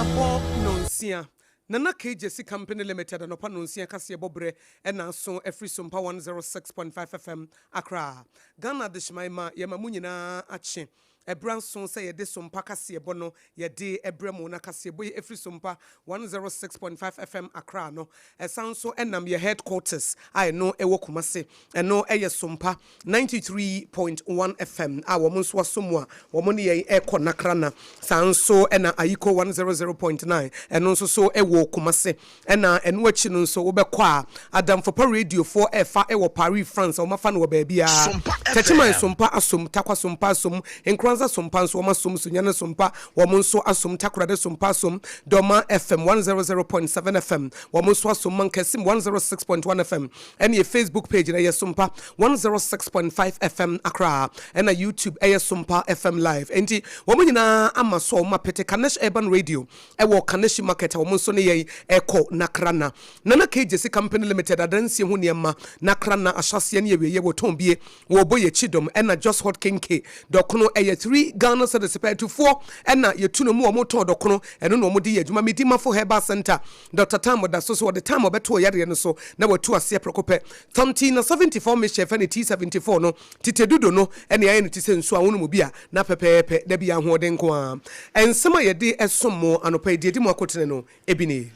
Abɔ Nnɔnsia, Nana KJC Company Limited Anɔpa Nnɔnsia Kaseɛbɔ Berɛ Ɛna Aso Afiri Sompa 106.5 FM Accra, Ghana Adehyeman Ma Yɛma Mo Nyinaa Akye Ɛbra nso sɛ yɛde Sompa kaseɛbɔ no yɛde brɛ mo na kaseɛbɔ yi firi Sompa 106.5 FM Accra ano. Ɛsan nso nam yɛ headquarters a ɛno wɔ Kumasi. Ɛno yɛ Sompa 93.1 FM a wɔn nso aso mu a wɔn ne yɛn rekɔ Nakrana. Saa nso na Ayiko 100.9 ɛno nso so wɔ Kumasi. Ɛna ɛno akyi no nso wobɛkɔ a, Adamfopa Radiofo refa wɔ Paris, France, a wɔafa no wɔ baabiara. Techiman Sompa asom, Tarkwa Sompa asom, Nkoranza Sompa nso wɔasom, Sunyani Sompa wɔn nso asom, Takoradi Sompa asom, Doma FM 100.7 FM wɔn nso asom, Mankasim 106.1 FM ɛne yɛ Facebook page no ɛyɛ Sompa 106.5 FM Accra ɛna YouTube ɛyɛ Sompa FM Live. Enti wɔn nyinaa ama so a wɔapete Kanesh Urban Radio wɔ Kaneshie Market a wɔn nso ne yɛn rekɔ Nakrana. Nana KJC Company Limited adansie ho nneɛma, Nakrana ahyɛaseɛ ne awieeɛ, wɔtɔn bie wɔ Oboye Kyidom ɛna Jos Hot Kenkey. Dɔkono yɛ three Ghana cedis pɛ. Atufoɔ na yɛtu no mu, wɔtɔn dɔkono, ɛno na wɔde yɛ adwuma. Medimafo Herbal Centre, Doctor Tam da so, so ɔde tam a ɔbɛto ɔyareɛ no so na watu aseɛ prɛko pɛ. Thontina seventy four mixture, yɛfrɛ no T seventy four no, tete dudo no na yɛayɛ no te sɛ nsuo a wonom bi a, Na pɛpɛɛpɛ, da bi ahoɔden nko ara nsɛm a yɛde som mo anɔpa yi, deɛ ɛdi mu akotene no, ebi nie.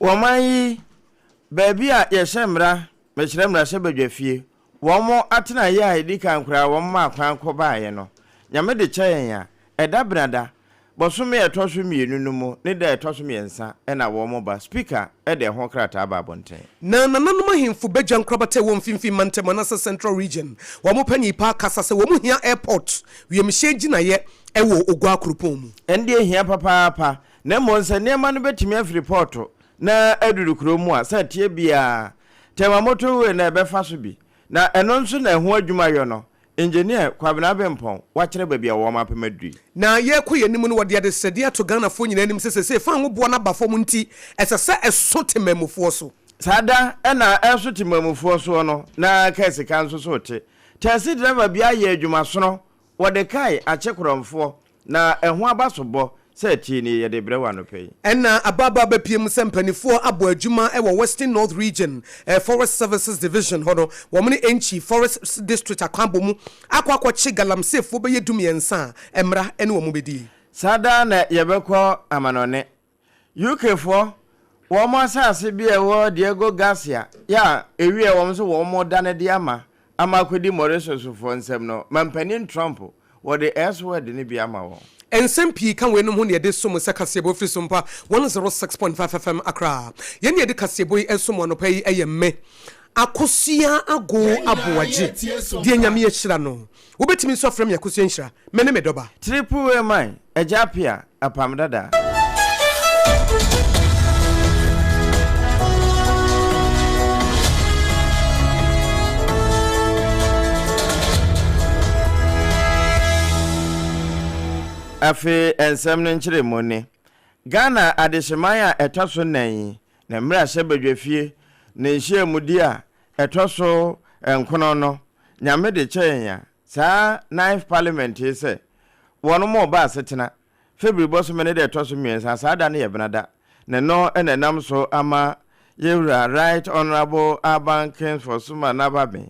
Wɔ ɔman yi baabi a yɛhyɛ mmara, mekyerɛ mmarahyɛbadwafie, wɔn atenaeɛ a ɛdi kan koraa a wɔmaa kwan kɔbaeɛ no, Nyame de kyɛ yɛn a, ɛda benada Bosome a ɛtɔ so mmienu no mu ne da a ɛtɔ so mmiɛnsa na wɔn ba Speaker de ɛho krataa ba abɔnten. Na nananom ahemfo bagya nkorabata a ɛwɔ Mfimfini Mantam anaasɛ Central Region, wɔn panyin paa kasa sɛ wɔn hia airport, wiemhyɛn gyinaeɛ, wɔ Oguaa kuropɔn mu. Ɛnde ehia papaapa na mmom sɛ nneɛma no bɛtumi afiri pɔɔto na aduru kuro mu a, sɛ ɛteɛ biara, Tɛmamoto Way no ɛbɛfa so bi, na ɛno nso na ɛho adwuma yɔ no Engineer Kwabena Bempɔn wakyerɛ baabi a wɔn apem adu yi. Na yɛrekɔ yɛn anim no, wɔde adesrɛdeɛ ato Ghanafoɔ nyinaa anim sɛ seesei fa a wo boa no aba fam nti, ɛsɛ sɛ ɛso temammufoɔ so. Saa da na ɛreso temammufoɔ soɔ no, na kaa sika nso so rete. Taxi driver bi ayɛ adwumasono, wɔde kae akye korɔmfoɔ. Na ɛho abasobɔ sɛ akyiri no yi yɛde rebrɛ wo anɔpa yi. Ɛna abaabaa bɛpue mu sɛ mpaninfoɔ abɔ adwuma wɔ Western North Region Forest Services Division hɔ no, wɔn ne Enchi Forest District akɔ abɔ mu akɔ akɔkye galamseyfoɔ bɛyɛ du mmiɛnsa a mmra ne wɔn bɛdie. Saa da na yɛbɛkɔ amanɔne UKfoɔ wɔn asaase bi a ɛwɔ Diego Garcia ya ewiɛ wɔn nso wɔn mo dane de ama ama akɔdi Morisosfoɔ nsam no Mampanin Trump wɔde S word no bi ama wɔn. Nsɛm pii ka weinom ho na yɛde som sɛ kaseɛbɔ firi Sumpa one zero six point five FM Accra. Yɛn na yɛde kaseɛbɔ yi ɛsom wɔ anɔpa yi ɛyɛ me, Akosua Ago Yɛn nyinaa Aboagye, yɛretie Sumpa. deɛ Nyame ahyira no. Wobɛtumi nso afrɛ me Akosua Nhyira. Mene me dɔba. Triple Amen, Agya Appiah, Apam dada. Afei nsɛm no nkyerɛmu ni, Ghana adehyeman a ɛtɔ so nnan yi ne mmarahyɛbadwafie ne nhyiamudi a ɛtɔ so nkron no, Nyame de kyɛɛ yɛn a Saa Ninth Parliament yi sɛ wɔnom ɔɔba asetena February bɔsome no da ɛtɔ so mmiɛnsa, saa da no yɛ Benada, ne no na ɛnam so ama Yɛwura Right Honourable Alban Kingsford Sumah Nababe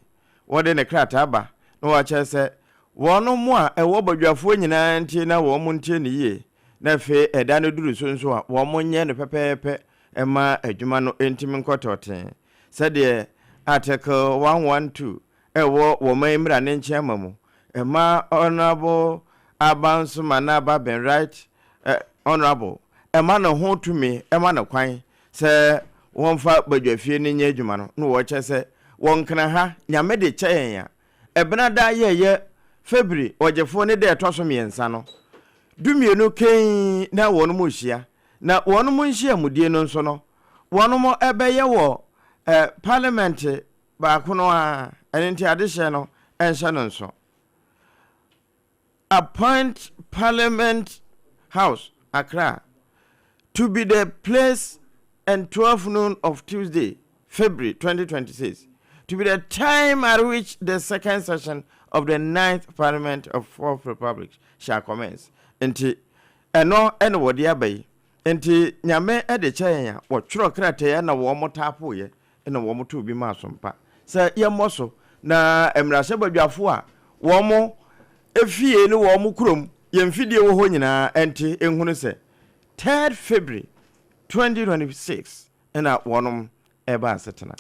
wɔde ne krataa aba na wɔakyɛrɛ sɛ wɔnom a ɛwɔ badwafoɔ nyinaa ntie na wɔnom ntie no yie na afei ɛda no duru so nso a wɔnom nyɛ no pɛpɛɛpɛ mma adwuma no ntim nkɔ tɔɔtee sɛdeɛ Article 112 ɛwɔ wɔ ɔman mmra ne nkyɛn ma mo mma honourable aba nso ma na ba ben right honourable ɛma no ho tumi ɛma no kwan sɛ wɔnfa badwafie no nyɛ adwuma no na wɔkyɛ sɛ wɔnkena ha nyame de kyɛ yɛn a ɛbena da yɛ yɛ febiri ɔgyefoɔ ne da ɛtɔ so mmiɛnsa no dumienu kɛi na wɔn mo hyia na wɔn mo nhyiamudie no nso no wɔn mo ɛbɛyɛ wɔ eh, parliament Baako no ara, ɛno nti adehyeɛ no nhyɛ no nso. Appoint parliament house, Accra, to be the place and twelve noon of Tuesday, February twenty twenty six to be the time at which the second session of the ninth parliament of Fourth Republic shall commence. Nti ɛno na wɔde aba yi. Enti Nyame de kyɛ yɛn a, wɔtwerɛ krataa yi na wɔn taapoo yɛ na wɔn too bi maa so mpa sɛ yɛn mmɔ so na mmarahyɛ badwafoɔ a wɔn fie ne wɔn kurom yɛ mfidie wɔ hɔ nyinaa nte nhunu sɛ 3rd February 2026 na wɔnom reba asetena.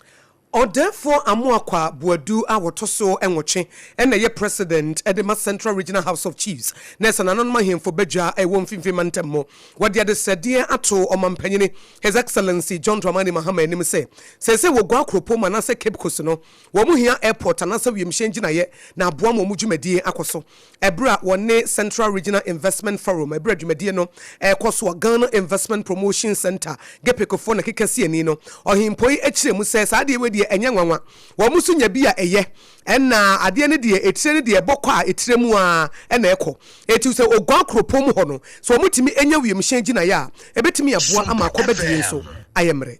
Ɔdɛɛfoɔ Amoakwaa Boadu a ɔtɔ so nwɔtwe na ɛyɛ President de ma Central Regional House of Chiefs na ɛsɛ nananom ahemfo badwa a ɛwɔ Mfimfini Mantam mu. Wɔde adesrɛdeɛ ato Ɔmampanyini His Excellency John Dramani Mahama anim sɛ, seesei wɔ Gua Kuropɔn mu anaasɛ Cape Coast no, wɔhia airport anaasɛ wiemhyɛn gyinaeɛ na aboa ma wɔn dwumadie akɔ so. Ɛberɛ a wɔne Central Regional Investment Forum, ɛberɛ a dwumadie no rekɔ so wɔ Ghana Investment Promotion Centre, GIPIC, foɔ na keka siani no, Ɔhempoi kyerɛ mu sɛ, saa adeɛ wei deɛ ɛnyɛ nwanwa. Wɔn nso nya bi a ɛyɛ. Ɛna adeɛ no deɛ etire no deɛ ɛbɔ kɔ a etire mu ara na ɛkɔ. Enti sɛ ɔguan kuropɔn mu hɔ no, sɛ wɔtumi nya wiemhyɛn gyinaeɛ a, ɛbɛtumi aboa ama akɔbɛdeɛ nso ayɛ mmerɛ.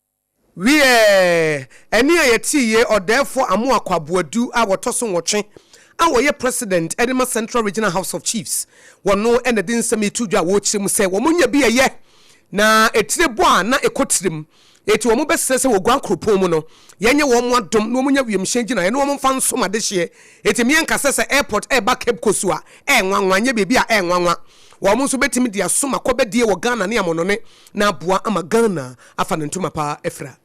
Wiɛ, ɛnne a yɛtee yɛ Ɔdɛɛfoɔ Amoah Kwaboadu a wɔtɔ so nwɔtwe a ɔyɛ President de ma Central Regional House of Chiefs, wɔno na ɛde nsɛm yi to dwa a wɔrekyerɛ mu sɛ wɔn nya bi ɛyɛ na etire bɔ a na ɛkɔ tire mu enti wɔn bɛsrɛ sɛ wɔguan kuropɔn mu no yɛnyɛ wɔn adom na wɔn nya wiemhyɛn gyinaeɛ na wɔn mfa nsom adehyeɛ enti meɛ nka sɛ sɛ airport ɛreba Cape Coast a ɛyɛ nwanwa ɛnyɛ baabi a ɛyɛ nwanwa wɔn nso bɛtumi de asom akɔ bɛdie wɔ Ghana ne Amonone na aboa ama Ghana afa ne ntoma pa afira.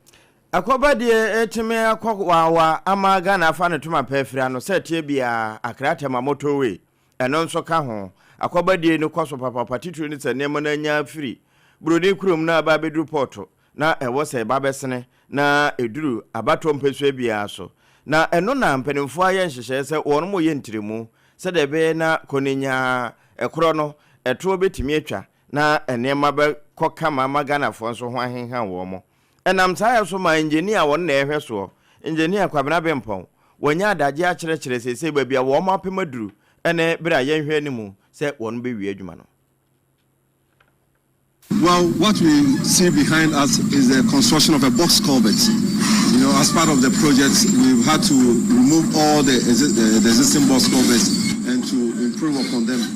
Ɛkɔba deɛ ɛretumi akɔ waawaa ama Ghana afa ne ntoma pa afira no, sɛ ɛteɛ biara, Accra Tɛm a Motorway, ɛno nso ka ho. Akɔba die no kɔ so papaapa titiriw ne sɛ nneɛma no anya afiri Broni kurom na aba abɛduru pɔɔto na ɛwɔ sɛ ɛba bɛsene na ɛduru abatoɔ mpɛsoa biara so na ɛno na mpanimfoɔ ayɛ nhyehyɛeɛ sɛ wɔreyɛ ntrɛmu sɛdeɛ ɛbɛyɛ na kɔninyaa korɔ no ɛtoɔ bɛtumi atwa na nneɛma bɛkɔ kama ama Ghanafoɔ nso ho ahenha wɔn. Ɛnam saa yɛ so maa Engineer a wɔn na ɛrehwɛ soɔ, Engineer Kwabena Bempɔn, wɔanya adagyeɛ akyerɛkyerɛ seesei baabi a wɔn apem aduru ne berɛ a yɛnhwɛ anim sɛ wɔn bɛwie adwuma no. Well, what we see behind us is the construction of a box culvert. You know, as part of the project, we've had to remove all the exi the existing box culverts and to improve upon them.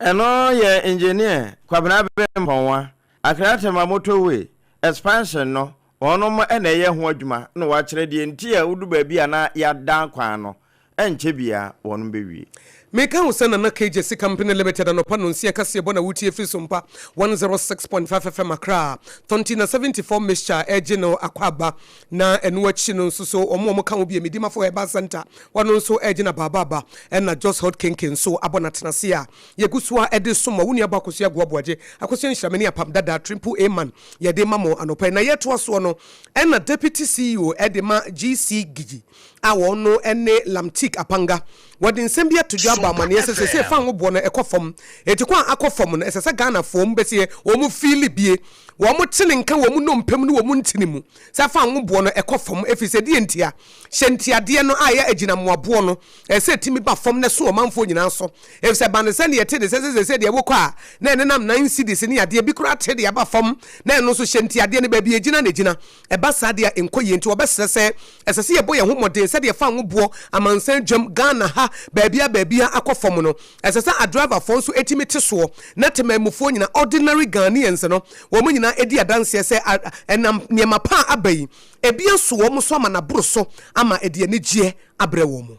Eno yɛ engineer Kwabena Bempɔnwa, Accra Tema Motorway expansion no wɔnom na ɛyɛ ho adwuma na wɔakyerɛ deɛ nti a wodu baabi a na yɛadan kwan no, ɛnkyɛ biaa wɔnom bɛwie. Meka wo sɛ Nana KJC Company Limited anɔpa nonsia kaseɛbɔ na wotie firi Sumpa 106.5 FM Accra, Tontina 74 Mixture a ɛregye no akwaaba Na ɛno akyi no nso so wɔn a wɔka ho bio, Mideema for Herbal Centre, wɔn nso regye no abaabaaba, ɛna Jos Health Kenken nso abɔ no atenase a yɛgu so ara de som ma wo nuabɔ Akosua Aguah Boagye, Akosua Nhyiramenni Apam Dada, Trimple Aman, yɛde ma mo anɔpa yi. Na yɛtoa soɔ no, ɛna Deputy CEO de ma GC Giggy. a wɔn no ne Lamtik Apanga, wɔde nsɛm bi ato dwa abɔ amanneɛ sɛ seesei fang ho boɔ no ɛkɔ fam. Enti kwan a akɔ fam no, ɛsɛ sɛ Ghanafoɔ mu bɛseɛ wɔn fiili bie, wɔn te ne nka wɔn nnompe mu ne wɔn ntini mu sɛ fang ho boɔ no ɛkɔ fam ɛfiri sɛ deɛ ntia hyɛntiadeɛ no a ɛyɛ agyinamoaboɔ no ɛsɛ sɛ ɛtumi ba fam na ɛso ɔmanfoɔ nyinaa so ɛfiri sɛ ba no sɛdeɛ ɛte de sɛ sɛ seesei deɛ wokɔ a na ɛnenam nine cedis ne adeɛ bi koraa te de aba fam na ɛno nso hyɛntiadeɛ no baabi ɛgyina na ɛgyina Ɛba saa de a, ɛnkɔ yie. Nti wɔbɛsrɛ sɛ ɛsɛ sɛ yɛbɔ yɛn ho mmɔden sɛdeɛ ɛfa ngo boɔ, amansan dwam, Ghana ha, baabiara baabiara akɔ fam no. Ɛsɛ sɛ adriverfoɔ nso tumi te soɔ na temanmufoɔ nyinaa, ordinary Ghanaians no, wɔn nyinaa di adanseɛ sɛ ɛnam nneɛma pa a aba yi, ɛbi aso wɔn so ama no aboro so ama ɛde anigyeɛ abrɛ wɔn.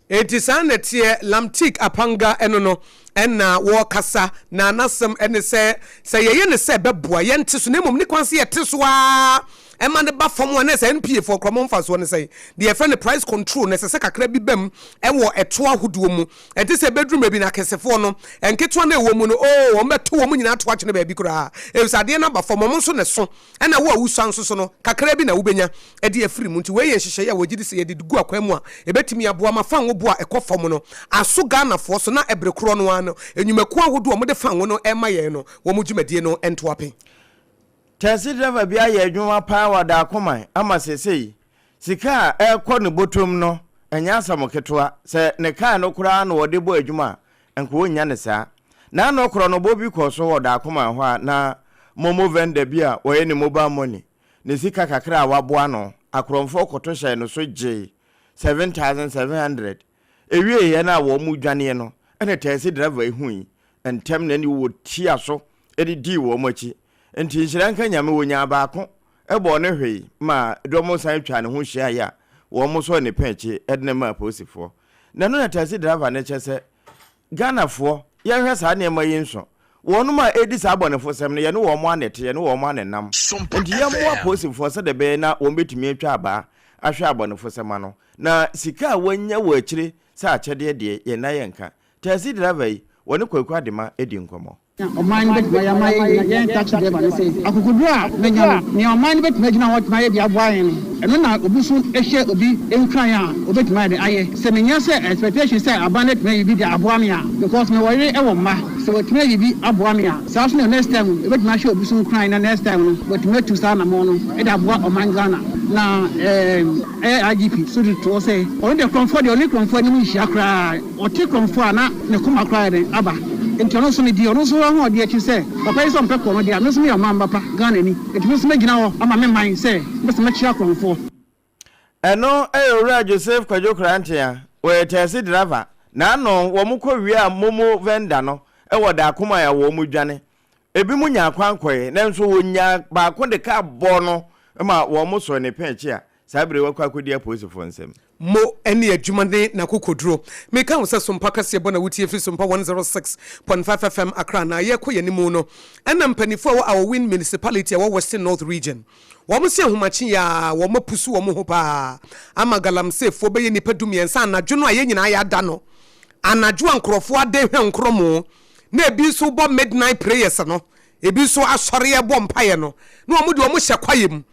Enti saa na ɛteɛ, Lamteek Apanga ɛno no na wɔrekasa, na n'asɛm ne sɛ, sɛ yɛyɛ no sɛ ɛbɛboa, yɛnte so, na mmom ne kwan sɛ yɛte so ara ma no ba fam a, na ɛsɛ NPA foɔ kora mo mfasoɔ ne sɛn? Deɛ yɛfrɛ no price control no, ɛsɛ sɛ kakra bi ba mu wɔ ɛtoɔ ahodoɔ mu, ɛte sɛ ɛbɛduru mmerɛ bi no akɛsefoɔ no, nketewa no a ɛwɔ mu no oo, wɔn bɛto wɔn nyinaa toɔ akyene baabi koraa, ɛfiri sɛ adeɛ no aba fam, wɔn nso na ɛso, ɛna wo a wosua nso so no, kakra bi na wobɛnya, de afiri mu nti wei yɛ nhyehyɛeɛ a wɔgye di sɛ yɛde gu akwan mu a ɛbɛtumi aboa ma fango bo a ɛkɔ fam no aso Ghanafoɔ so na ɛbere korɔ no ara no nnwumakuo ahodoɔ a wɔde fango no rema yɛn no wɔn dwumadie no nto ape. Taxi driver bi ayɛ adwuma paa wɔ Daakoman ama seesei sika a ɛrekɔ ne bɔtɔm no ɛnyɛ asɛm ketewa. Sɛ ne kaa no koraa na ɔde bɔ adwuma a anka ɔnnya no saa. N'ano korɔnobɔ bi kɔɔ so wɔ Daakoman hɔ a na momo vendor bi a ɔyɛ ne mobile money ne sika kakra a waboa no, akorɔmfoɔ kɔto hyɛɛ no so gyee 7700. Ɛwieeɛ no a wɔredwaneɛ no na taasi driver yi hui ntɛm na ɛnne ɔtia so de dii wɔn akyi. Nti nhyira nka Nyame, ɔnyaa baako bɔɔ no hwee ma dɔm san twaa ne ho hyiaeɛ a wɔsɔɔ ne pɛnkye de no maa apolisifoɔ. Na ɛno na taasi driver no kyɛ sɛ Ghanafoɔ, yɛnhwɛ saa nneɛma yi nso. Wɔnom a ɛredi saa abɔnefosɛm no, yɛne wɔn ano ɛte, yɛne wɔn ano ɛnam. Enti yɛmmoa Apolisifoɔ sɛdeɛ ɛbɛyɛ na wɔbɛtumi atwa abaa ahwɛ abɔnefosɛm ano. Na sika a wɔanya wɔ akyire sɛ akyɛdeɛ deɛ, yɛn nan yɛnka. Taxi driver yi, wɔne Kwaku Adema di nkɔmmɔ. Na ɔman no betumi ayɛ ama yɛn nyinaa, yɛn taxi driver no sɛ, akokoduru a manya no, nea ɔman no betumi agyina hɔ atumi ayɛ de aboa yɛn no, ɛno na obi nso hyɛ obi nkuran a obetumi ayɛ dɛn ayɛ. Sɛ minya sɛ expectation sɛ aban no atumi ayi bi de aboa me a, because mewɔ yere wɔ mma, sɛ watumi ayi bi aboa me a, saa nso na next time no ebetumi ahyɛ obi so nkuran na next time no watumi atu saa anamɔn no de aboa ɔman Ghana. Na ɛɛ ɛɛ IGP nso de toɔ sɛ, ɔno deɛ Kurɔmfoɔ deɛ ɔne Kurɔmfoɔ anim nhyia koraa. Ɔte kɔ mpo a, na ne koma koraa yɛ den aba. Enti ɔno nso, medii ɔno nso ahoɔden akyi sɛ, papa yi sɛ ɔmpɛ korɔno deɛ a, me nso meyɛ ɔmanba pa, Ghanani, enti me nso mɛgyina hɔ ama me man sɛ mepɛ sɛ mɛkyea korɔnfoɔ. Ɛno yɛ Owura Joseph Kwadwo Korantea, ɔyɛ taasi drava, na ano wɔkɔ wia momo vɛnda no wɔ Daakoma a wɔdwane Ebinom nyaa kwan kɔe, nanso wonyaa baako de kaa bɔɔ no ma wɔsɔɔ ne pɛnkye a saa bere yi wakɔ akodi apolisifo nsam. Mo ɛne adwuma ne n'akokoduro. Me ka wo sɛ Sompa kaseɛ bɔ na wo tie firi Sompa 106.5 FM Accra na yɛ kɔ yɛ animu no ɛna mpaninfoɔ ɛwɔ Awowin Municipality ɛwɔ Western North Region wɔn se ahomakye yi aa wɔn apusu wɔn ho paa ama Galamsey foɔ bɛyɛ nipa du miɛnsa anadwo no a yɛn nyinaa yɛ ada no anadwo a nkorɔfoɔ ada ahwa nkorɔmoo na ebi nso bɔ midnight prayers no, ebi nso asɔre ɛbɔ mpaeɛ no, na wɔn deɛ wɔn hyɛ kwaeɛ mu,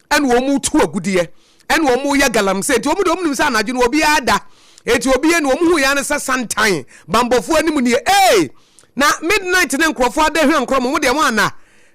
ɛna wɔn retu agudeɛ, ɛna wɔn reyɛ galamsey, nti wɔn deɛ wɔn nim sɛ anadwo no obiara da, nti obiara ni wɔn hu yɛ ne sɛ santan bambɔfoɔ anim nie, ee, na midnight ne nkorɔfoɔ adahwira nkorɔ mo, mo deɛ mo ana,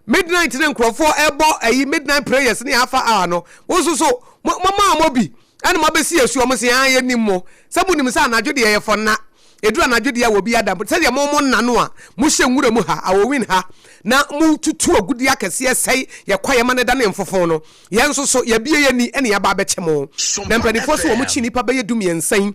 midnight ne nkorɔfoɔ ɛbɔ ɛyi midnight prayers ne half hour no, mo nso so mo mo maa mo bi. Ɛna wɔabɛsi asu, wɔn se, Aane, yɛnim mo, sɛ monim sɛ anadwo deɛ yɛfɔ nna, ɛduru anadwo deɛ a wɔ bi ada, sɛdeɛ mo mo nna no a mohyɛ nwura mu ha, Awowin ha, na motutu agudeɛ akɛseɛ sɛe yɛn kwaeɛ ma no dane mfofo no, yɛn nso so, yɛabue yɛn ani na yɛaba abɛkyɛ mo. Na mpanimfoɔ se wɔkye nnipa bɛyɛ dumiɛnsa yi.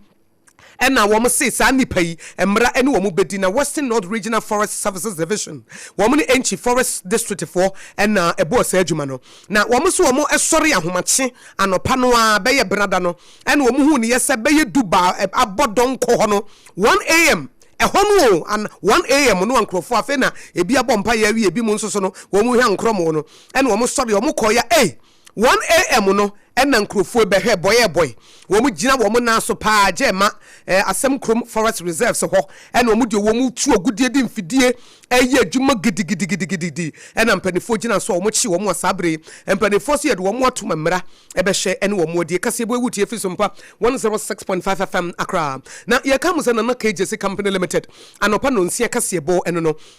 Ɛna wɔn see saa nnipa yi mmra ɛne wɔn bɛdi na Western North Regional Forest Services Division, wɔn ne Enchi Forest District foɔ ɛna ɛbɔɔ saa adwuma no. Na wɔn nso wɔn sɔre ahomakye anɔpa no ara bɛyɛ benada no ɛna wɔn huu no yɛ sɛ bɛyɛ du ba abɔ dɔnkɔ hɔ no one AM ɛhɔ no oo an one AM no nkorɔfoɔ afei na ɛbi abɔ mpaeɛ awie ɛbi mo nso so no wɔn hwa nkorɔmoo no ɛna wɔn sɔre wɔn kɔeɛ ei One AM no na nkurofoɔ bɛhwɛ bɔyɛ bɔy, wɔn gyina wɔn nan so paa gyɛ ma eh, Asɛm Kurom Forest Reserves hɔ na wɔn deɛ wɔn tu agudeɛ de mfidie ɛyɛ adwuma gidigidigidigidi na mpaninfoɔ gyina nso a wɔn kye wɔn wɔ saa bere yi, mpaninfoɔ nso yɛde wɔn ato ma mmra ɛbɛhwɛ ɛne wɔn adie. Kaseɛbɔ ɛwu tie firi Sompa 106.5 FM Accra na yɛka mo sɛ Nana KJC Company Limited anɔpa nɔnsia kaseɛbɔ ɛno no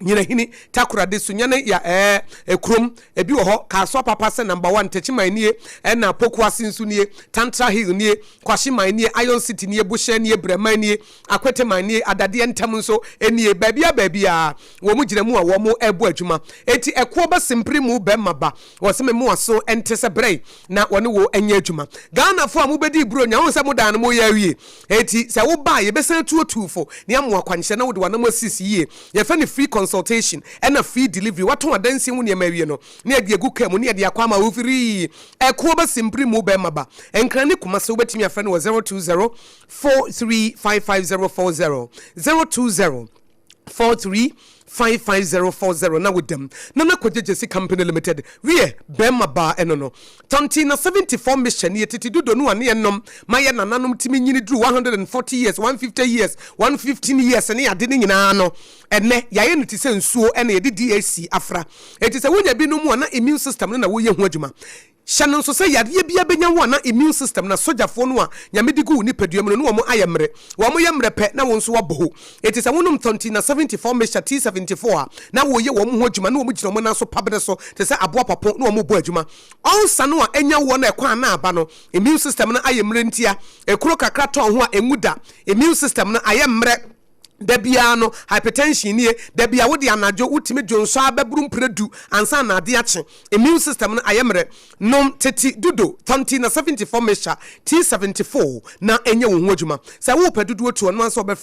Nyinahini, Takoradi, Sunyani ya ɛɛ ɛkurom ɛbi wɔ hɔ, Kasoa papa sɛ number one, Techiman nie, ɛna Pokuase nso nie, Tantra hill nie, Kwahyeman nie, Iron city nie, Bohyɛn nie, Brɛman nie, Akweteman nie, Adadeɛ ntam nso nie, baabiaa baabiaa wɔn gyina mu a wɔn ɛbɔ adwuma. Eti ɛkoɔ ba simpiri mu bɛma ba, wɔse me moa so ɛnte sɛ brɛe na wɔne wo ɛnyɛ adwuma. Ghanafoɔ a mobɛdii Buronya, wohu sɛ mo dan no moyɛ awie? Enti sɛ woba a, yɛbɛsan atu otuufo, ne ama wo akwanhyɛ na wode w'anam asisi yie. Yɛfrɛ no free consultation ɛna free delivery. Woatɔn adansie ho nneɛma awie no, na yɛde agu kaa mu na yɛde akɔ ama wo firii Ɛko Aba Simpri mu, Bɛmma Ba. Nkran ne Kumasi, wobɛtumi afrɛ no wɔ 020 4355 040, 020. four three five five zero four zero na wodam na na kɔgye gyesi company limited wiɛ bɛɛma baa ɛno no tɔnti na seventy four mihyɛ ne yɛ titi dodo no ane ɛnom ma yɛ nananom timi nyini duru one hundred and forty years one fifty years one fifteen years ne ade ne nyinaa no ɛnɛ yɛayɛ no te sɛ nsuo ɛna yɛde DAC afra ɛti sɛ wonya bi no mu a na immune system no na woyɛ ho adwuma Hyɛ no nso sɛ yareɛ biara bɛnya wo a na immune system na sogyafoɔ no a Nyame de gu wo nipadua mu no ne wɔn ayɛ mmerɛ. Wɔn yɛ mmerɛ pɛ na wo nso wabɔ ho. Enti sɛ wonom Tɔntina 74 mixture T 74 a na woreyɛ wɔn ho adwuma ne wɔn gyina wɔn nan so pa berɛ so te sɛ aboa papo ne wɔn rebɔ adwuma. Ulcer no a anya woɔ no ɛkwan na aba no immune system no ayɛ mmerɛ ntia. Ekuro kakra tɔn ho a ɛnwu da. Immune system no ayɛ mmerɛ. Da biara no, hypertension nie, da bia wode anadwo wotumi dwonsɔ ara bɛboro mpire du ansa na ade akye, immune system no ayɛ mmerɛ. Nom tete dudo, Thontina seventy four mixture, T seventy four, na ɛnyɛ wo ho adwuma. Sɛ worepɛ duduo toɔ, noa nsa a wobɛfrɛ.